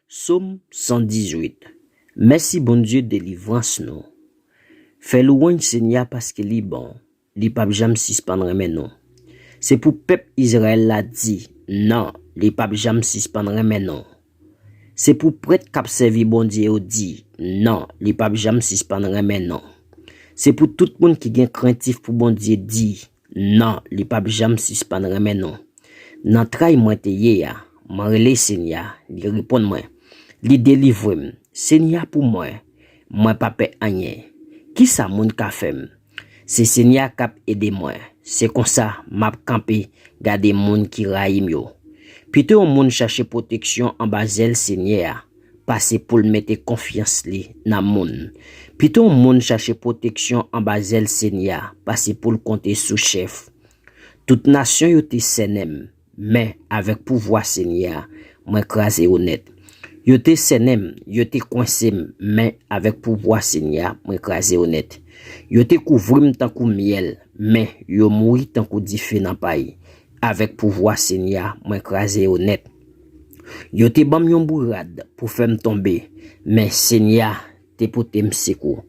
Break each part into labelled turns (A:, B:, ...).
A: Som 118 Mèsi Bondye delivrans nou Fè louwanj Senyè a paske li bon Li pap janm sispann renmen nou Se pou pèp Izrayèl la di Nan Li pap janm sispann renmen nou Se pou prèt k ap sèvi Bondye yo di Nan Li pap janm sispann renmen nou Se pou tout moun ki gen krentif pou Bondye di Non, li pap janm sispann renmen nou. Nan tray mwen te ye a, mwen rele Senyè a, li reponn mwen. Li delivre m. Senyè a pou mwen, mwen pa pè anyen. Kisa moun ka fè m? Se Senyè a kap ede mwen. Se konsa map kanpe gade moun ki rayi m yo. Pito yon moun chache pwoteksyon anba zèl Senyè a. pase pou l mete konfyans li nan moun. Pito yon moun chache pwoteksyon anba zèl Senyè a pase pou l konte sou chèf. Tout nasyon yo te sènen m, men, avèk pouvwa Senyè a, mwen kraze yo nèt. Yo te sènen m, yo te kwense m, men, avèk pouvwa Senyè a, mwen kraze yo nèt. Yo te kouvri m tankou myèl, men, yo mouri tankou dife nan pay. Avèk pouvwa Senyè a, mwen kraze yo nèt. Yo te ban m yon bourad pou fè m tonbe, men Senyè a te pote m sekou.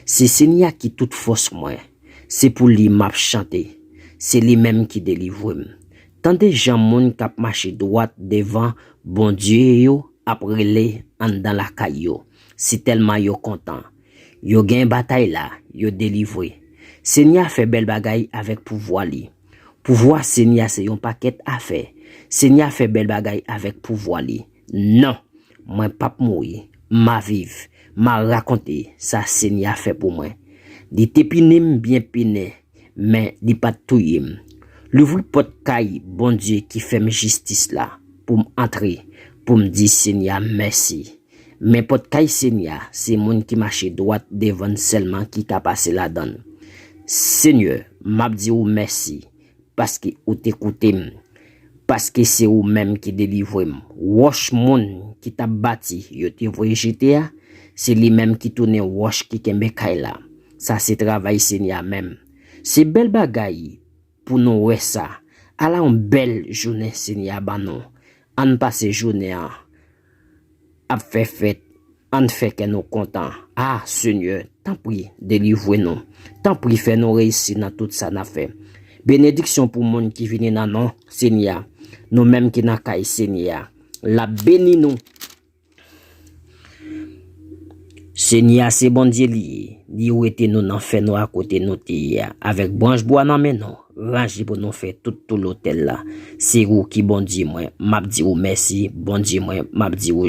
A: Se Senyè a ki tout fòs mwen, se pou li m ap chante, se li menm ki delivre m. Tande jan moun k ap mache dwat devan Bondye yo ap rele anndan lakay yo, sitèlman yo kontan. Yo gen batay la, yo delivre. Senyè a fè bèl bagay avèk pouvwa li. Pouvwa Senyè a se yon pakèt afè. Senyè a fè bèl bagay avèk pouvwa li. Non! Mwen pap mouri. M a viv. M a rakonte sa Senyè a fè pou mwen. Li te pini m byen pini. Men li pa t touye m. Louvri pòt kay Bondye ki fè m jistis la, pou m antre, pou m di Senyè a mèsi. Men pòt kay Senyè a, se moun ki mache dwat devan l sèlman ki ka pase ladan l. Senyè, m ap di ou mèsi, paske ou te koute m, paske se ou menm ki delivre m. Wòch moun ki t ap bati yo te voye jete a, se li menm ki tounen wòch ki kenbe kay la. Sa se travay Senyè a menm. Se bèl bagay pou nou wè sa. Ala yon bèl jounen Senyè a ban nou. Ann pase jounen an ap fè fèt, ann fè kè nou kontan. A, Senyè, tanpri delivre nou. Tanpri fè nou reyisi nan tout sa n ap fè. Benediksyon pou moun ki vini nan non Senyè a. Nou menm ki nan kay Senyè a, l ap beni nou. Senyè a se Bondye li ye, li wete nou nan fènwa kote nou te ye a, avèk branch bwa nan men nou, ranje pou nou fè tout tou lotèl la. Se ou ki Bondye mwen, m ap di ou mèsi, Bondye mwen, m ap di ou.